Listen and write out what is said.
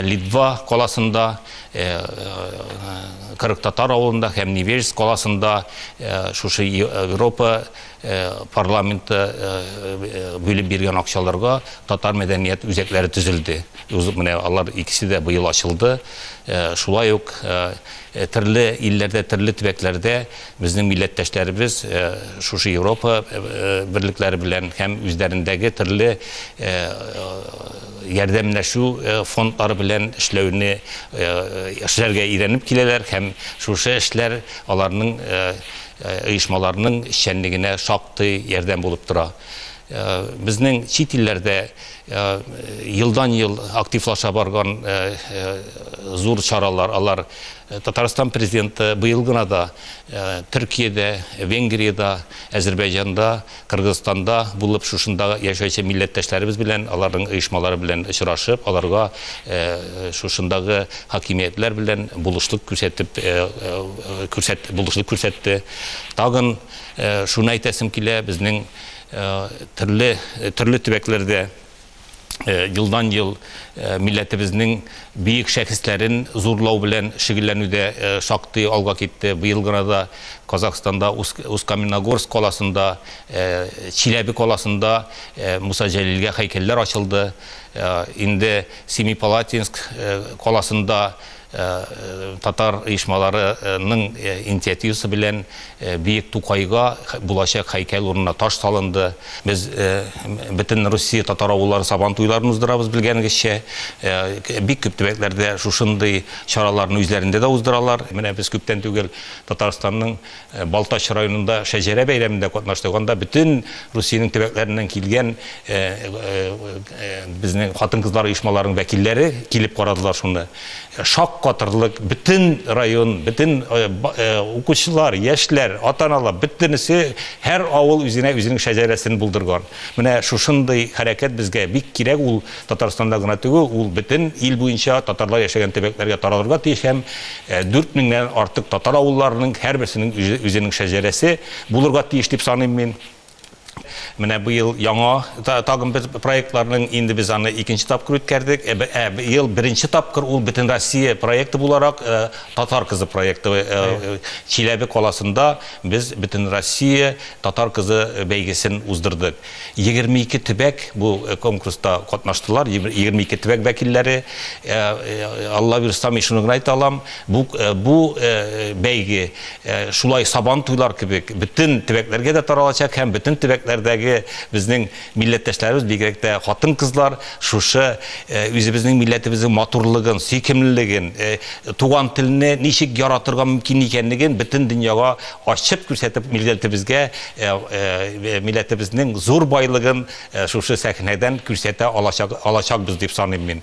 Литва каласында, Кырыктатар авылында һәм Невельск каласында шушы Европа парламенты бүлеп биргән акчаларга татар мәдәният үзәкләре төзелде. Менә алар икесе дә быел ачылды. Шулай ук төрле илләрдә, төрле төбәкләрдә Безнең милләттәшләребез шушы Европа берлекләре белән һәм үзләрендәге төрле ярдәмләшү фондлары белән эшләүне эшләргә өйрәнеп киләләр һәм шушы эшләр аларның оешмаларның эшчәнлегенә шактый ярдәм булып тора. Безнең чит илләрдә елдан-ел активлаша барган зур чаралар, алар Татарстан Президенты быел гына да Төркиядә, Венгриядә, Әзербәйҗанда, Кыргызстанда булып, шушында яшәүче милләттәшләребез белән, аларның оешмалары белән очрашып, аларга шушындагы хакимиятләр белән булышлык күрсәтеп, булышлык күрсәтте. Тагын шуны әйтәсем килә, безнең төрле төрле төбәкләрдә елдан ел милләтебезнең биек шәхесләрен зурлау белән шөгыльләнүдә шактый алга китте. Быел гына да Казахстанда Ускаменогорск каласында, Чиләбе каласында Муса Җәлилгә һәйкәлләр ачылды. Инде Семипалатинск каласында Татар оешмалары ның интиативасы белән Биек Тукайга булачак һәйкәл урынына таш салынды. Без бөтен Русия татар авыллары Сабан туйларын уздырабыз, белгәнегезчә. Бик күп төбәкләрдә шушындый чараларны үзләрендә дә уздыралар. Менә без күптән түгел Татарстанның Балтач районында шәҗәрә бәйрәмендә катнаштык. Анда бөтен Русиянең төбәкләреннән килгән безнең хатын-кызлар оешмаларының вәкилләре килеп карадылар шуны. Шаккатырлык, бөтен район, бөтен укучылар, яшьләр, ата-аналар, бөтенесе, һәр авыл үзенә үзенең шәҗәрәсен булдырган. Менә шушындый хәрәкәт безгә бик кирәк ул. Татарстанда гына түгел, ул бөтен ил буенча татарлар яшәгән төбәкләргә таралырга тиеш һәм дүрт меңнән артык татар авылларының һәрберсенең үзенең шәҗәрәсе булырга тиеш дип саныйм мин. Менә быел яңа тагын бер проектларның инде без аны икенче тапкыр үткәрдек. Ә быел беренче тапкыр ул Бөтенроссия проекты буларак Татар кызы проекты Чиләбе каласында без Бөтенроссия татар кызы бәйгесен уздырдык. Егерме ике төбәк бу конкурста катнаштылар, егерме ике төбәк вәкилләре. Алла бирса, мин шуны гына әйтә алам, бу бу бәйге шулай Сабантуйлар кебек бөтен төбәкләргә дә таралачак һәм бөтен төбәкләрдәге безнең милләттәшләребез, бигрәк тә хатын-кызлар шушы үзебезнең милләтебезнең матурлыгын, сөйкемлелеген, туган телне ничек яратырга мөмкин икәнлеген бөтен дөньяга Ачып күрсәтеп милләтебезгә, милләтебезнең зур байлыгын шушы сәхнәдән күрсәтә алачакбыз дип саныйм мин.